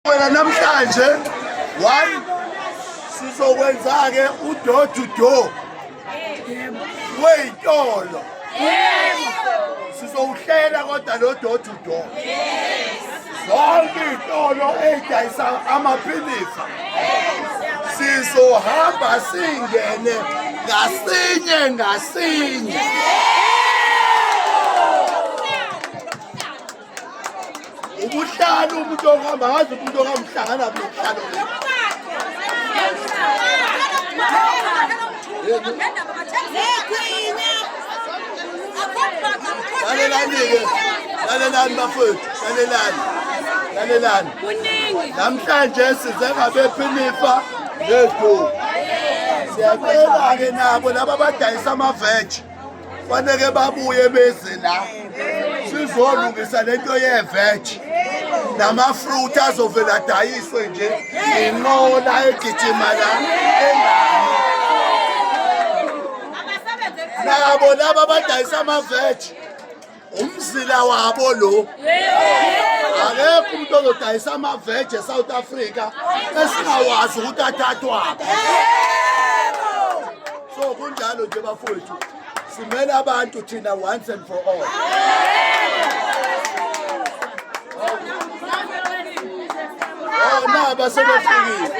Wena namhlanje one sizokwenza-ke udoor to door wey'tolo sizowuhlela kodwa lo door to door zonke iy'tolo ey'dayisa amaphilisi sizohamba singene ngasinye ngasinye ubuhlanu umuntu ohamba ngazi umuntu ohamhlangana buhlanu lalelani-ke lalelani bafowethu lalelani lalelani namhlanje size ngabephinifa nezulu siyacela-ke nabo laba abadayisa amaveji faneke babuye beze la sizolungisa lento yeveji namafruit azovele adayiswe nje inqola egijima la engami nabo laba abadayisa amaveji umzila wabo lo akekho umuntu ozodayisa amaveje esouth africa esingawazi ukuthi athathwaphi so kunjalo nje bafowethu simele abantu thina once and for all oh, naba sebefikile